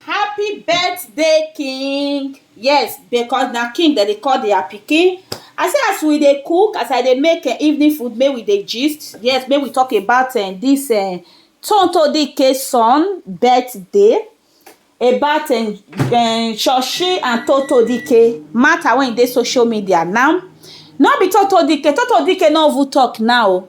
Happy birthday king yes because na king dem dey call their pikin I say as we dey cook as I dey make um evening food make we dey gist yes make we talk about um this um Tonto Dikeh son birthday about um um Shoshi and Tonto Dikeh matter wey e dey social media now no be Tonto Dikeh, Tonto Dikeh no even talk now o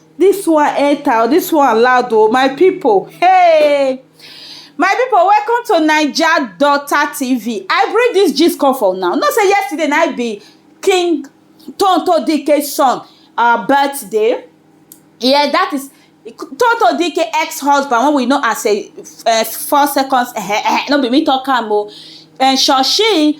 This one enter o, this one loud o my people hey my people welcome to naija daughter tv i bring this gist come for una know say yesterday na I be king tonto dike son uh, birthday yeah that is tonto dike ex-husband wey we know as a uh, four seconds uh, uh, no be me talk am o uh, shoshi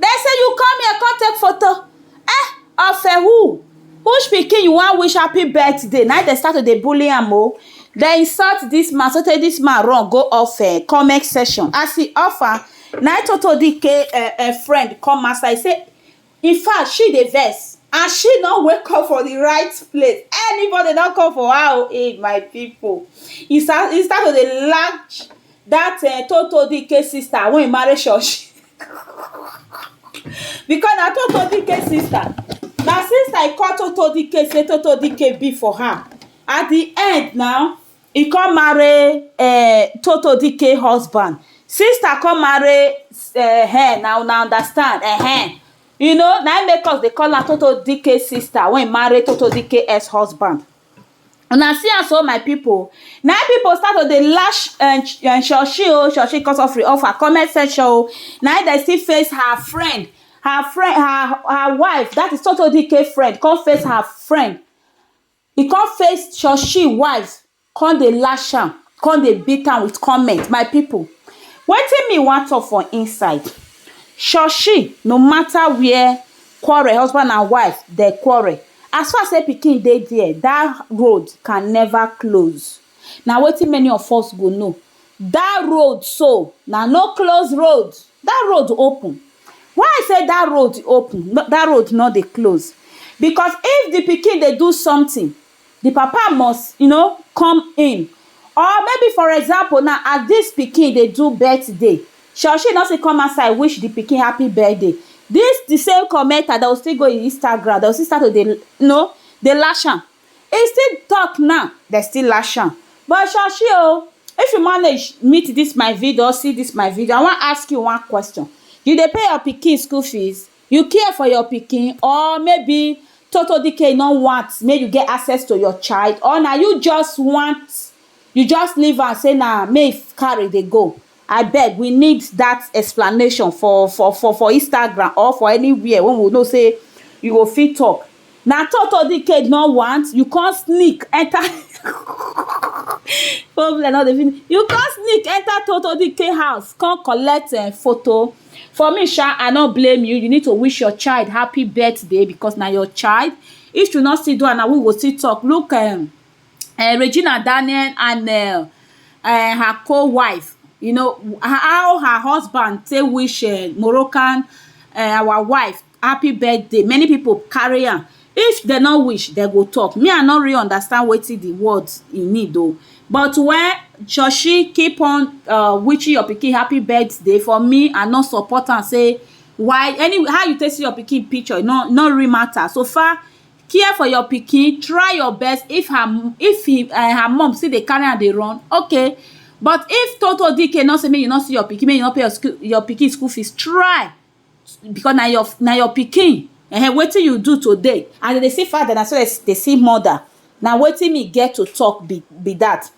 Dem say you come here come take photo eh of a who which pikin you wan wish happy birthday na dem start to dey bully am o dem insult this man so tey this man run go off eh comment section as he off am na him Toto Dikeh eh eh friend come outside say in fact she dey vex and she no wake up for the right place anybody don come for her o eh my people he start he start to dey lash that um toto dike sister wey marry shosh because na toto dike sister na sister e call toto dike say toto dike be for her at the end now e come marry um toto dike husband sister come marry um na una understand um you know na im make us dey call am toto dike sister wey marry toto dike ex husband Una see am so my people, na im people start to dey lash um Shoshi oh, Shoshi cut off off her comment section oh, na im dem still face her friend, her friend, her her wife, dat is Sotodike friend come face her friend, e come face Shoshi wife, come dey lash am, come dey beat am with comment, my people wetin me wan talk for inside, Shoshi no matter where quarrel, husband and wife dem quarrel, As far sey pikin dey there, that road can never close. Na wetin many of us go know. That road so, na no close road. That road open. Why I say that road open, that road no dey close? Because if the pikin dey do something, the papa must you know, come in. Or maybe for example now, as this pikin dey do birthday, Shall she not say come outside wish the pikin happy birthday this the same commenter they will still go in Instagram they will still start to dey you know dey lash am he still talk now they still lash am but Shashi o if you manage meet this my video or see this my video I wan ask you one question you dey pay your pikin school fees you care for your pikin or maybe Toto Dikeh you no want make you get access to your child or na you just want you just leave am say na make he carry dey go I beg we need that explanation for for for for Instagram or for anywhere when we know say you go fit talk. Na Toto the cage no want you come sneak enter problem no dey finish you come sneak enter Toto the cage house come collect um photo for me sha I no blame you you need to wish your child happy birthday because na your child if you no still do am na we go still talk look um um Regina Daniel and um um her co-wife, you know, how her husband take wish um Moroccan um our wife happy birthday, many pipu carry am. If dem no wish, dem go talk. Me I no really understand wetin the word e mean though. But when Shoshi keep on um wishing your pikin happy birthday, for me I no support am sey why any how you take see your pikin picture e no no really matter. So far care for your pikin try your best if her mum if he um her mum still dey carry am dey run okay but if toto dike no say make you no see your pikin make you no pay your school your pikin school fees try because na your na your pikin um wetin you do today as dem dey see father na so dem dey see mother na wetin me get to talk be be that.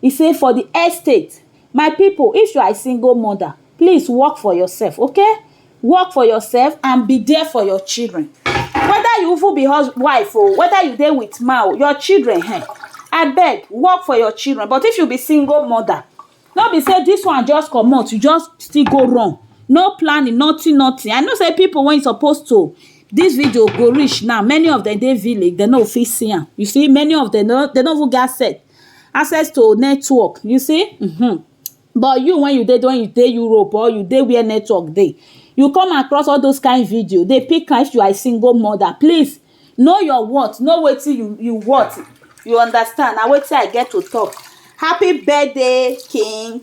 E say for the estate, my people if you are a single mother, please work for yourself, okay? Work for yourself and be there for your children. Whether you even be husband, wife or oh, whether you dey with man or oh, your children, hey, eh, I beg, work for your children. But if you be single mother, no be say this one just come out, you just still go wrong. No planning, nothing, nothing. I know say people when supposed to this video go reach now many of them dey village dem no fit see am you see many of them no they no even get set access to network you see um but you when you dey when you dey Europe or you dey where network dey you come across all those kind video dey pick like you are a single mother please know your worth know wetin you you worth you understand na wetin I get to talk happy birthday king